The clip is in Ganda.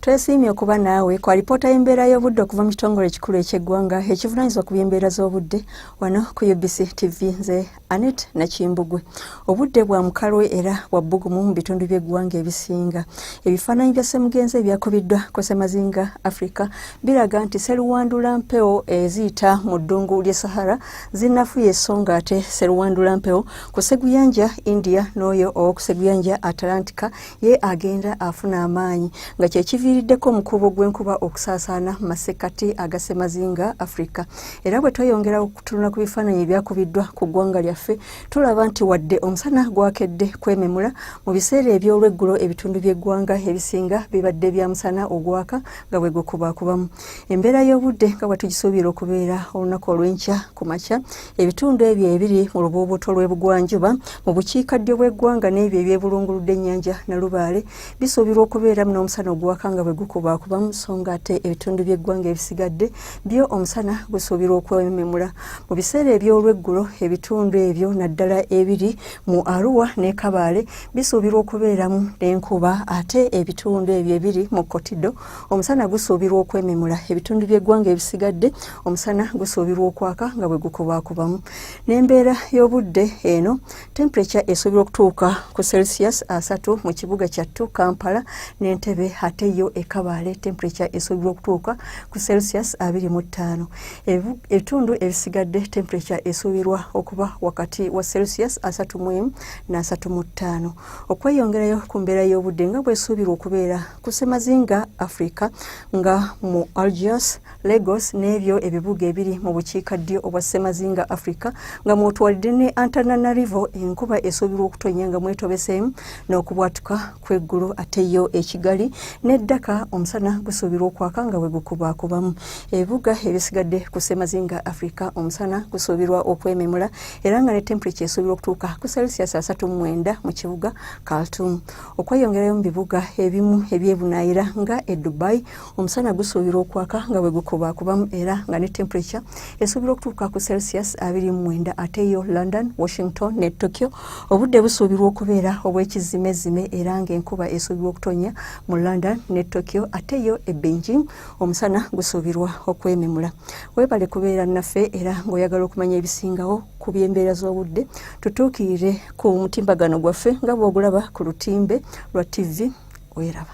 Twesiimye okuba naawe ku alipoota y'embeera y'obudde okuva mu kitongole ekikulu eky'eggwanga ekivunaanyizibwa ku by'embeera z'obudde wano ku UBC TV nze Anet Nakimbugwe. Obudde bwa mukalwe era bwa bbugumu mu bitundu by'eggwanga ebisinga. Ebifaananyi bya ssemugenzi ebyakubiddwa ku ssemazinga Africa biraga nti seruwandula mpewo eziyita mu ddungu ly'e Sahara zinafuye esonga ate seruwandula mpewo ku seguyanja India n'oyo ow'oku seguyanja Atlantika ye agenda afuna amaanyi nga kyekiviiriddeko omukuubo gw'enkuba okusaasaana mu masekkati agasemazinga afrika era bwe tweyongera okutunula ku bifaananyi ebyakubiddwa ku ggwanga lyaffe tulaba nti wadde omusana gwakedde kwememula mu biseera eby'olweggulo ebitundu by'eggwanga ebisinga bibadde bya musana ogwaka nga bwe gukubakubamu embeera y'obudde nga bwetugisuubira okubeera olunaku olw'enkya ku makya ebitundu ebyo ebiri mu lubuubuuto lw'ebugwanjuba mu bukiikaddyo bw'eggwanga n'ebyo ebyebulunguludde ennyanja nalubaale bisuubirwa okubeeramu n'omusana oguwaka nga bwe gukubaakubamu so nga ate ebitundu by'eggwanga ebisigadde byo omusana gusuubirwa okwememula mu biseera eby'olweggulo ebitundu ebyo naddala ebiri mu aruwa ne kabaale bisuubirwa okubeeramu n'enkuba ate ebitundu ebyo ebiri mu kotido Omusana gusuubirwa okwememula ebitundu by'eggwanga ebisigadde omusana gusuubirwa okwaka nga bwe gukubaakubamu n'embeera y'obudde eno temperature esuubirwa okutuuka ku celsius asatu mu kibuga kyattu kampala n'entebe ate yo ekabaale temperature esuubirwa okutuuka ku celsius abiri mu ttaano ebitundu ebisigadde temperature esuubirwa okuba wakati wa celsius asatu mu emu n'asatu mu ttaano okweyongerayo ku mbeera y'obudde nga bwesuubirwa okubeera ku ssemazinga africa nga mu algiers lagos n'ebyo ebibuga ebiri mu bukiika ddyo obwa ssemazinga africa nga mwotwalidde ne antananarivo enkuba esuubirwa okutonya nga mwetobeseemu n'okubwatuka kw'eggulu ate yo ekigali ne ddaka omusana gusuubirwa okwaka nga bwe gukubaakubamu ebibuga ebisigadde ku ssemazinga africa omusana gusuubirwa okwememula era nga ne temperature esuubirwa okutuuka ku celsius asatu mu mwenda mu kibuga kaltum okweyongerayo mu bibuga ebimu ebyebunaayira nga e dubai omusana gusuubirwa okwaka nga bwe gukubaakubamu era nga ne temperature esuubirwa okutuuka ku celsius 29 ate yo london washington ne tokyo obudde busuubirwa okubeera obw'ekizimezzime era ng'enkuba esuubirwa okutonya mu london ne tokyo ate yo e beijing omusana gusuubirwa okwememula weebale kubeera naffe era ng'oyagala okumanya ebisingawo ku by'embeera z'obudde tutuukirire ku mutimbagano gwaffe nga bw'ogulaba ku lutimbe lwa ttivi weraba